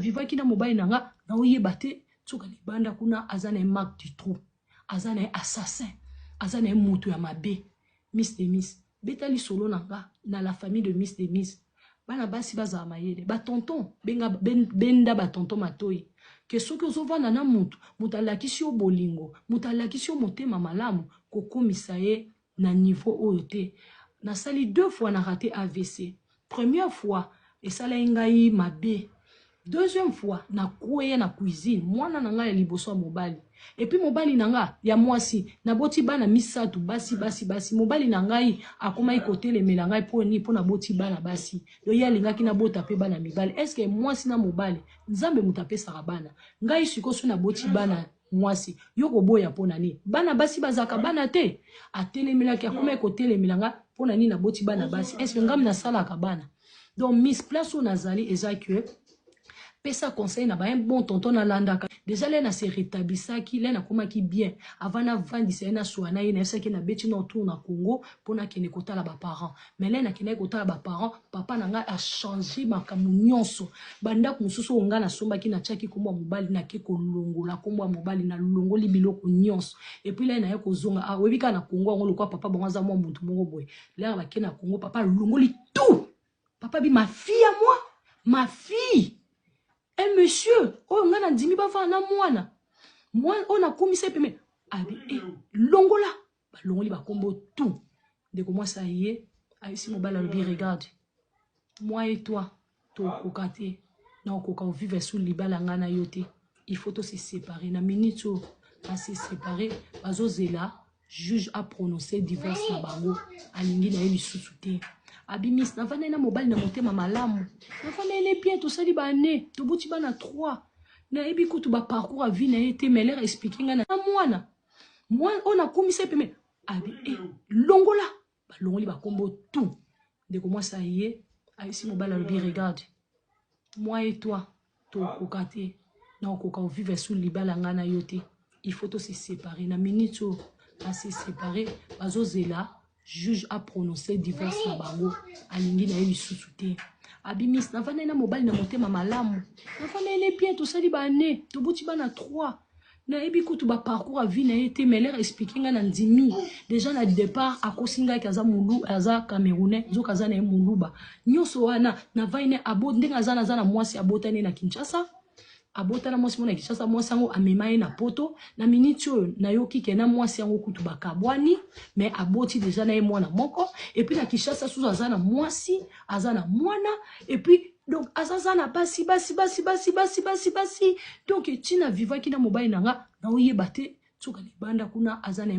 vivaki na mobali na nga naoyeba te soki libanda kuna aza na ye mark du trou aza na ye assassin aza na ye moto ya mabe miss de miss beta lisolo na nga na la famille de miss de miss bana basi bazala mayele batonton benga ben, benda batonton matoi ke soki ozovanda na moto moto alakisi yo bolingo moto alakisi yo motema malamu kokomisa ye na niveau oyo te nasali deux fois na rate avc première fois esalaki ngai mabe deuxième fois na kweya na cuisine mwana na ngai ya liboso ya mobali epuis mobali na nga ya mwasi naboti bana misatu basi basi basi mobali na ngai akomaki kotelemela ngai mpo nini mpo naboti bana basi yo ye alingaki nabota mpe bana mibali eske mwasi na mobali nzambe moto apesaka bana ngai sikoyo so naboti bana Mwasi, yo koboya pona nini? Bana basi bazalaka bana te? Atelemelaki, akomaki kotelemela nga pona nini naboti bana basi? Est-ce que ngam nasalaka bana? Donc mis place oyo nazali eza que pesa conseil na ba un bon tonton nalandaka deja le na se retablisaki le nakomaki bien avant navandisa ye naswana ye nayebisaki ye nabeti na tour na congo mpo nakende kotala baparent mais lene akendaki kotala ba parents papa na ngai achange makambo nyonso bandako mosusu oyo ngai nasombaki natiaki nkombo ya mobali nake kolongola nkombo ya mobali nalongoli biloko nyonso epuis lene naye kozonga ah, oyebi kaka na kongo yango lokwa papa bango aza mwa motu moko boye lere bake na kongo papa alongoli tout papa bi ma fille ya moi ma fille e monsieur oyo ngai nandimi bavana na mwana mwana oyo nakumisa ye peme abi e longola balongoli bakombo tout ndeko mwasi aye ayebisi mobali alobi regarde moi et toi tokoka te na okoka ovivre sur libala ngai na yo te il faut to se séparer na minute oyo base séparer bazozela juge aprononce divorce na bango alingi na ye lisusu te abimisi navandai na mobali na motema malamu navandai bien tosali baane tobuti bana 3 nayebi kutu baparcours ya vie na ye te mais lere explike ngai na mwana moi oyo nakumisa ye pembeni abi e longola balongoli bakombo tout ndeko mwasi aye ayebisi mobali alobi regarde moi et toi tokoka te nakokoka ovivre sous libala ngai na yo te il faut tose séparer na minute oyo base séparer bazozela juge a prononce divorce na bango alingi na ye lisusu te abimisi nafandai na mobali na motema malamu nafandai ne bien tosali baane toboti bana 3 nayebi kutu baparcours ya vie na ye te mais lere explike ngai na ndimi deja na départ akosi ngai ke aza mulu aza camerounais nzoka aza na ye muluba nyonso wana navai ne abo ndenge aza naza na mwasi abotani na kinshasa Abota na mwasi moko na Kinshasa, mwasi yango amema ye na poto. Na minute oyo nayoki ke na mwasi yango kutu bakabwani mais aboti deja na ye mwana moko et puis na Kinshasa susu aza na mwasi, aza na mwana et puis donc aza za na basi basi basi basi basi basi basi donc ti na vivaki na mobali na nga naoyeba te nsuka libanda kuna aza na ye